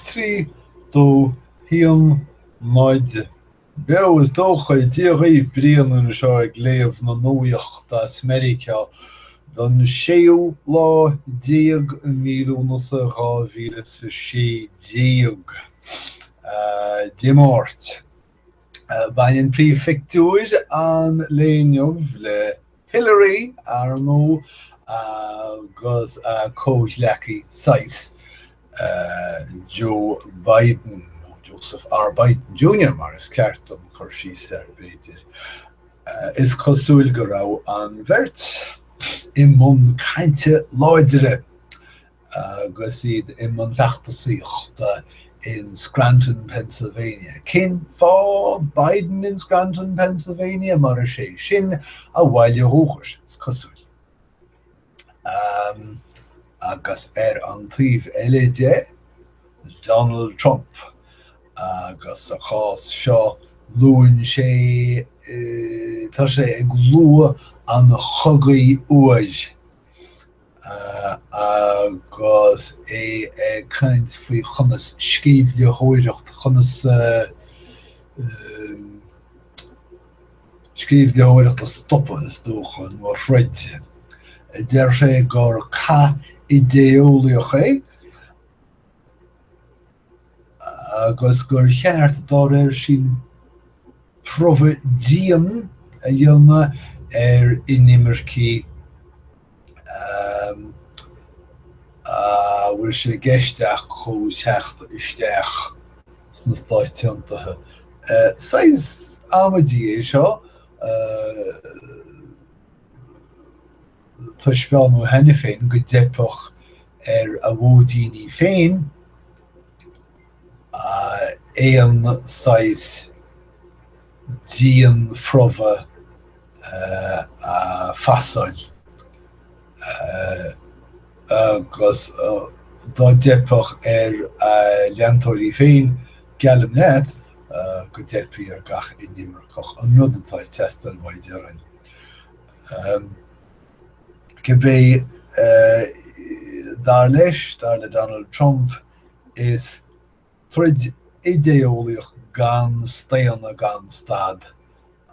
Trí, dó, haon, muid. Beo, is dócha. Dia dhaoibh, Brian anseo ag léamh na nuachta as Meiriceá don séú lá déag i mí Lúnasa 2016. Dé Máirt. Baineann príomhphictiúr an lae inniu le Hillary, ar ndóigh, agus a comhghleacaí sise, Joe Biden, Joseph R. Biden Junior mar is ceart dom cur síos air, b'fhéidir. Is cosúil go raibh an bheirt i mbun cainte láidre Agus iad i mbun feachtasaíochta in Scranton, Pennsylvania. Cén fáth Biden in Scranton, Pennsylvania? Mar is é sin a bhaile dúchais, is cosúil. Agus ar an taobh eile de, Donald Trump. Agus sa chás seo, luann sé, tá sé ag lua an chogaidh fhuair. agus é ag caint faoi conas sceimhlitheoireacht, conas sceimhlitheoireacht a stopadh, is dócha, nó a throid. Deir sé gur cath idéeolaíoch é. agus gur cheart, dá réir sin, promhadh dian a dhéanamh ar inimircigh a bhfuil sé i gceist acu chun teacht isteach sna Stáit Aontaithe. Saghas amaidí é seo. Taispeánadh cheana féin go dteipfeadh ar a vótóirí féin aon saghas dianphromhadh a phasáil agus dá dteipfeadh ar a leantóirí féin, geallaim duit go dteipfidh ar gach inimirceach an rud atá ag teastáil uaidh, déarfainn. Cibé, dar leis, dar le Donald Trump, is troid idé-eolaíoch gan staonadh gan stad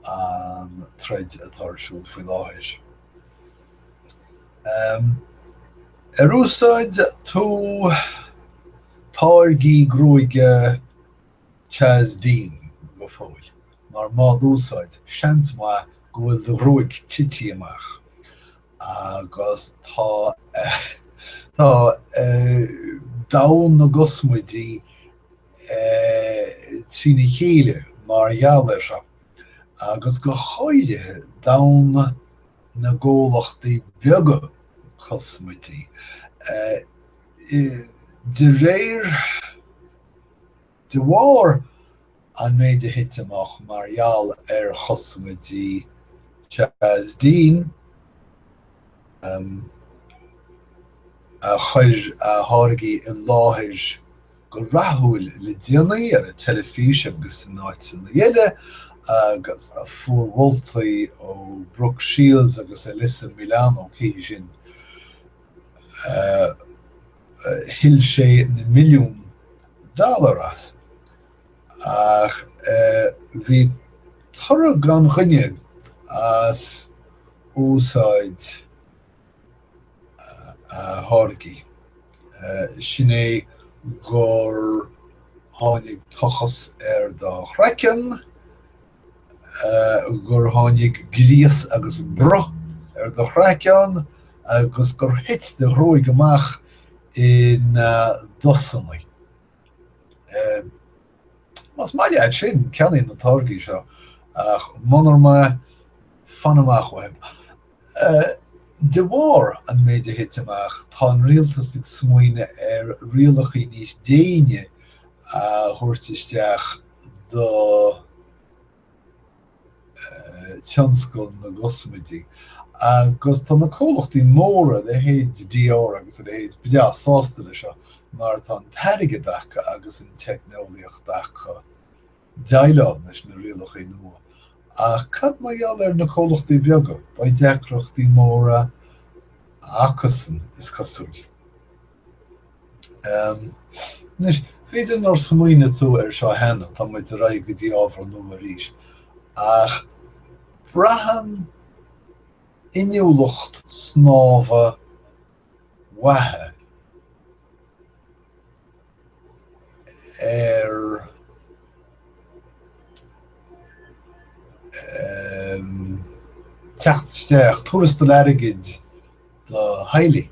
an troid atá ar siúl faoi láthair. Ar úsáid tú táirgí gruaige Chaz Dean, go fóill, mar mhód úsáid, seans maith go bhfuil do ghruaig tití amach agus tá domhan na gcosmaidí trína chéile mar gheall air seo, agus go háirithe domhan na gcomhlachtaí beaga cosmaidí. De réir. De bharr an méid a thit amach mar gheall ar chosmaidí Chaz Dean, a chuir a tháirgí i láthair go rathúil le déanaí ar an teilifís agus in áiteanna eile, agus a fuair moltaí ó Brooke Shields agus Alyssa Milano, cé hí sin? thuill sé na milliúin dollar as. Ach bhí toradh gan choinne as úsáid a tháirgí, sin é gur tháinig tochas ar do chraiceann, gur tháinig gríos agus bruth ar do chraiceann agus gur thit do ghruaig amach ina dosanna. Más maith leat sin, ceannaigh na táirgí seo, ach munar maith, fan amach uathu. De bharr an méid a thit amach, tá an rialtas ag smaoineadh ar rialachaí níos déine a thabhairt isteach do thionscal na gcosmaidí agus tá na comhlachtaí móra, leithéid Dior agus a leithéid, breá sásta le seo mar tá an t-airgead acu agus an teicneolaíocht acu. déileáil leis na rialachaí nua. Ach cad mar gheall ar na comhlachtaí beaga? Beidh deacrachtaí móra acusan, is cosúil. Anois, b'fhéidir nár smaoinigh tú air seo cheana, tá muid ar aghaidh go dtí ábhar nua arís, ach braitheann inniúlacht snámha mhaith ar theacht isteach, tuarastal airgid do theaghlaigh.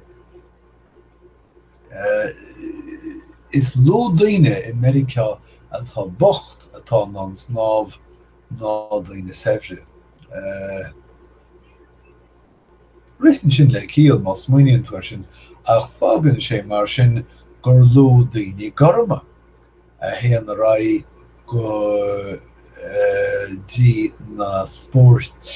Is lú daoine i Meiriceá atá bocht atá in ann snámh ná daoine saibhre. Ritheann sin le ciall má smaoiníonn tú air sin ach fágann sé mar sin gur lú daoine gorma a théann ar aghaidh go dtí na spóirt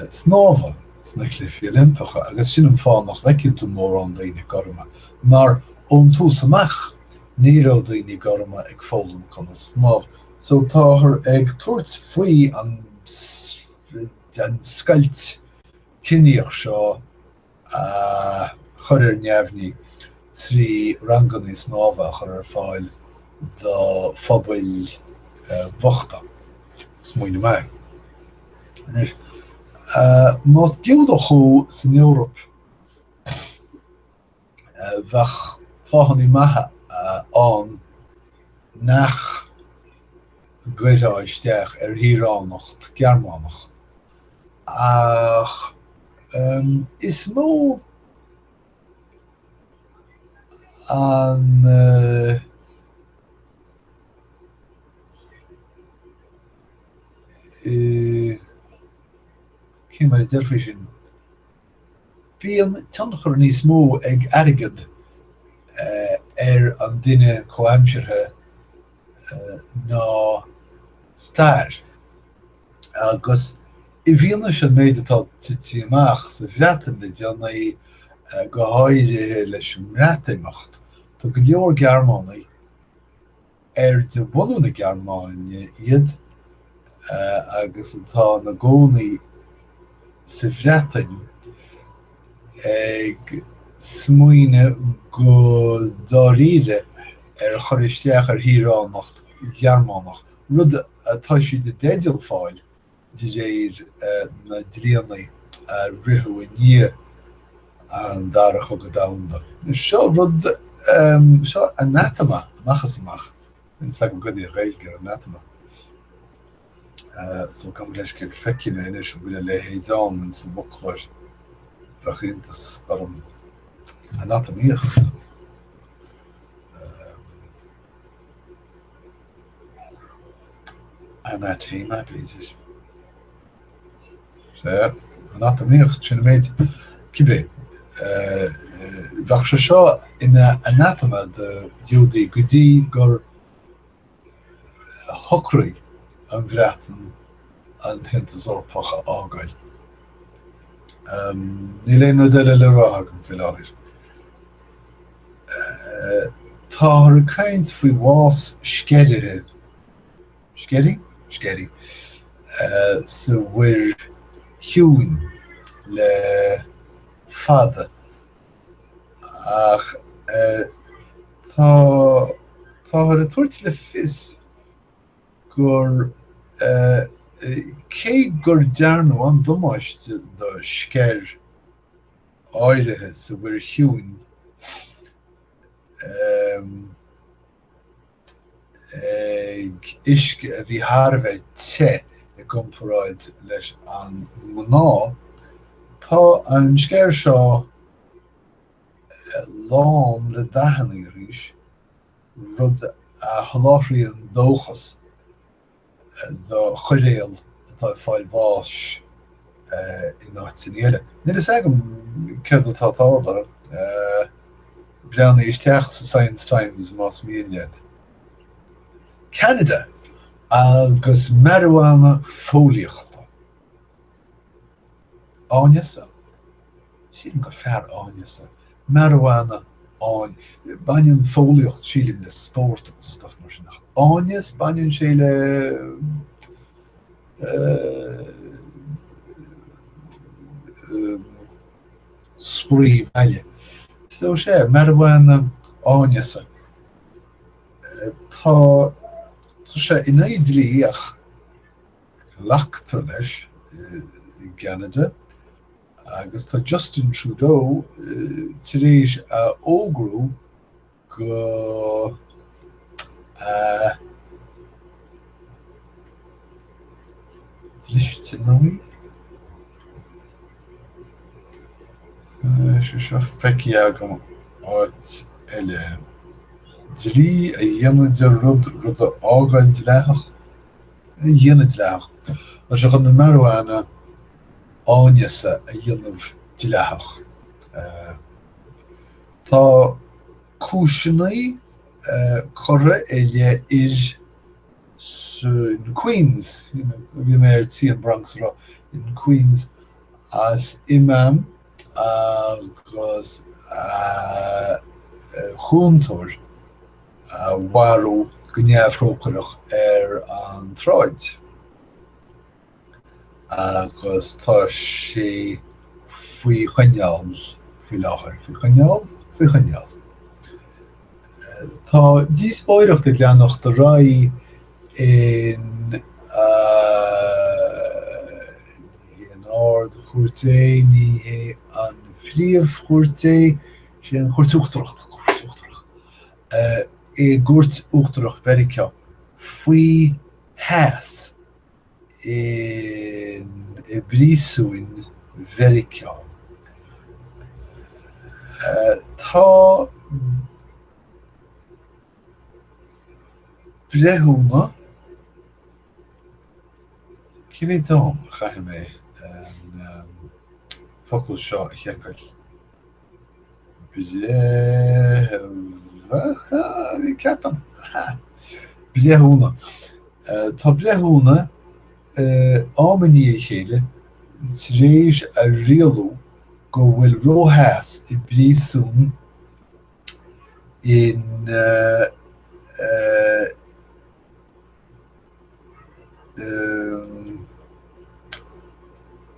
snámha sna Cluichí Oilimpeacha agus sin an fáth nach bhfeiceann tú mórán daoine gorma mar ón tús amach ní raibh daoine gorma ag foghlaim conas snámh. So táthar ag tabhairt faoi an scoilt ciníoch seo a chur ar neamhní trí ranganna snámha a chur ar fáil do phobail bhochta. Smaoineamh maith. Anois, más Giúdach thú san Eoraip, bheadh fáthanna maithe ann nach gcuirfeá isteach ar shaoránacht Ghearmánach, ach is mó an cé mar a déarfaí sin? Bíonn tionchar níos mó ag airgead ar an duine comhaimseartha ná stair. Agus i bhfianaise an méid atá tite amach sa Bhreatain le déanaí, go háirithe leis an mBreatimeacht, tá go leor Gearmánaigh, ar de bhunadh na Gearmáine iad agus atá ina gcónaí sa Bhreatain, ag smaoineamh go dáiríre ar chur isteach ar shaoránacht Ghearmánach, rud atá siad i dteideal fáil. de réir na dlíanaí a ritheadh i ndiaidh an Dara Chogadh Domhanda. Seo rud, seo anathema amach is amach. Níl a fhios agam caidé an Ghaeilge ar anathema. So fan anois go bhfeicfidh mé anois an bhfuil a leithéid ann ins an bhfoclóir. Bheadh iontas orm. Anatamaíocht. anatamaíocht, sin an méid, cibé, bheadh sé seo ina anathema do Ghiúdaigh go dtí gur shocraigh an Bhreatain an tAontas Eorpach a fhágáil. Níl aon rud eile le rá agam faoi láthair. Táthar ag caint faoi bhás sceirithe, sceirí? sceirí? sa Mhuir Chiúin le fada ach tá táthar ag tabhairt le fios gur cé gur dearnadh an-damáiste do sceir áirithe sa Mhuir Chiúin ag uisce a bhí thar a bheith te i gcomparáid leis an ngnáth, tá an sceir seo lán le dathanna arís, rud a sholáthraíonn dóchas do choiréal atá ag fáil bháis in áiteanna eile. Níl a fhios agam céard atá ag tarlú. Breathnaigh isteach sa Science Times más mian leat. Ceanada agus marijuana fóillíochta. Áineasa? Sílim gur fearr áineasa. Marijuana, áin. Baineann fóillíocht, sílim, le spórt agus stuff mar sin. Ach áineas? Baineann sé le, spraoi baile. So sé marijuana áineasa. Tá sé in aghaidh an dlí ach. glactar leis i gCeanada agus tá Justin Trudeau tar éis a fhógrú go dlisteanaí, sé seo feicthe agam áit eile, dlí a dhéanamh de rud, rud a fhágáil dleathach. a dhéanamh dleathach, tá sé chun an marijuana áineasa a dhéanamh dleathach. Tá cúiseannaí curtha i leith fhir in Queens, bhí mé ar tí an Bronx a rá, in Queens, as imam. agus a chúntóir a mharú go neamhthrócaireach ar an tsráid agus tá sé faoi choinneáil faoi láthair, faoi choinneáil, faoi choinneáil. Tá díospóireacht ag leanacht ar aghaidh in Ní an Ard-Chúirt é, ní an Phríomh-Chúirt é, sé an Chúirt Uachtarach, an Chúirt Uachtarach, i gCúirt Uachtarach Mheiriceá faoi theas in i bpríosúin Mheiriceá. Tá. breithiúna, cibé, tá a'm, caithfidh mé an focal seo a sheiceáil? breithiúna, ní cheapaim, breithiúna, tá breithiúna am i ndiaidh a chéile tar éis a rialú go bhfuil ró-theas i bpríosún in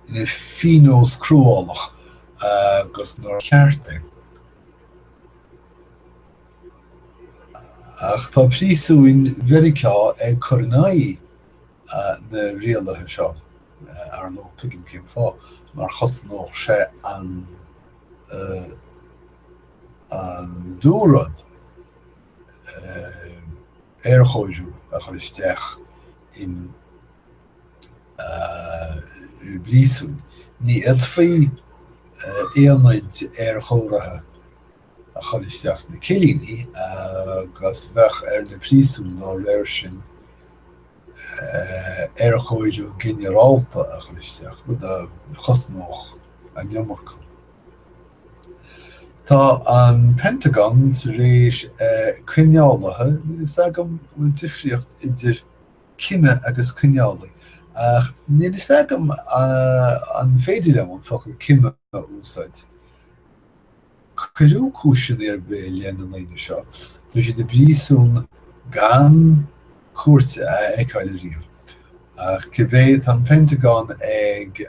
ina phionós cruálach agus nach ceart é. Ach tá príosúin Mheiriceá ag cur in aghaidh na rialaithe seo, ar ndóigh, tuigim cén fáth, mar chosnódh sé an an dúrud e aerchóiriú a chur isteach in i bpríosúin. Ní fhéadfaí aonaid aerchóirithe a chur isteach sna cillíní agus bheadh ar na príosúin dá réir sin aerchóiriú ginearálta a chur isteach, rud a chosnódh an iomarca. Tá an Pentagon tar éis coinneálaithe, níl a fhios agam an bhfuil difríocht idir cime agus coinneálaí, ach níl a fhios agam an féidir liom an focal cime a úsáid, cuireadh cúiseanna ar bith i leith na ndaoine seo, tá siad i bpríosún gan cúirt a fheiceáil ariamh. Ach cibé, tá an Pentagon ag.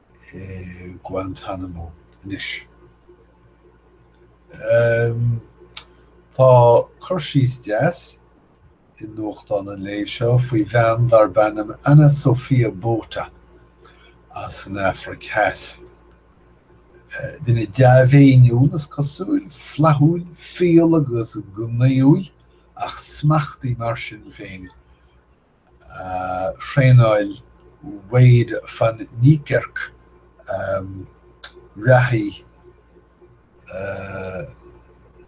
i Guantanamo anois. Tá cur síos deas i nuachtáin an lae seo faoi bhean darb ainm Ana Sofia Botha as an Afraic Theas. Duine dea-mhéiniúil, is cosúil, flaithiúil, fial agus gnaíúil ach smachtaí mar sin féin. Thraenáil Wayde van Niekerk reathaí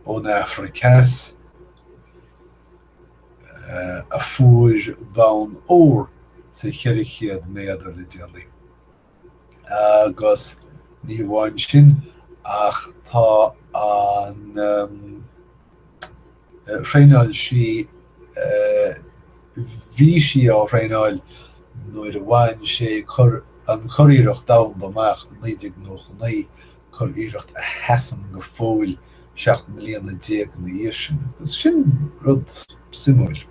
ón Afraic Theas a fuair bonn óir sa 400 méadar le déanaí. Agus ní amháin sin, ach tá an thraenáil sí, bhí sí á thraenáil nuair a bhain sé an curiarracht domhanda amach i 1999, curiarracht a sheasann go fóill seacht mbliana déag ina dhiaidh sin. Agus sin rud suimiúil.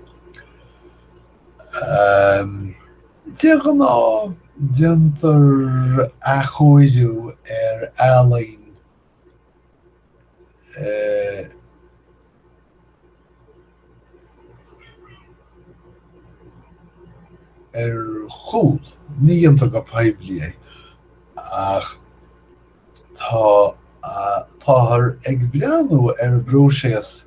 De ghnáth, déantar athchóiriú ar ealaín ar chúl, ní dhéantar go poiblí é, ach táthar ag breathnú ar an bpróiséas.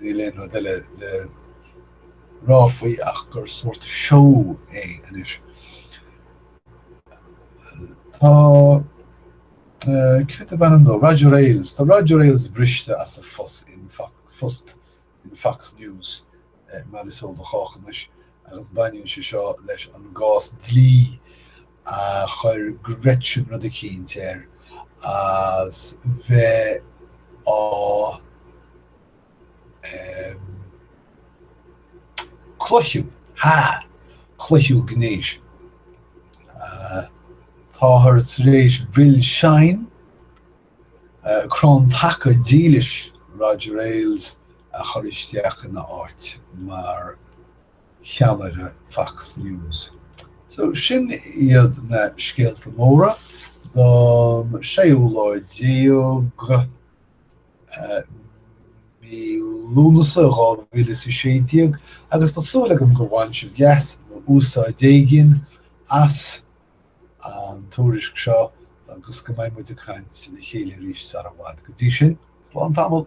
Níl aon rud eile le rá faoi ach gur sórt show é anois. Tá, céard ab ainm dó, Roger Ailes, tá Roger Ailes briste as a phost in Fox News mar is eol do chách anois, agus baineann sé seo leis an gcás dlí a chuir Gretchen rud eicínt air as bheith á em clipeadh ha ciapadh gnéis táthar tar éis Bill Shine Crann taca dílis Roger Ailes a chur isteach ina áit mar cheannaire Fox News. So, sin iad na scéalta móra don séú lá déag mí Lúnasa 2016 agus tá súil agam gur bhain sibh leas nó úsáid éigin as. an tuairisc seo agus go mbeidh muid ag caint le chéile arís sara bhfad. Go dtí sin, slán tamall!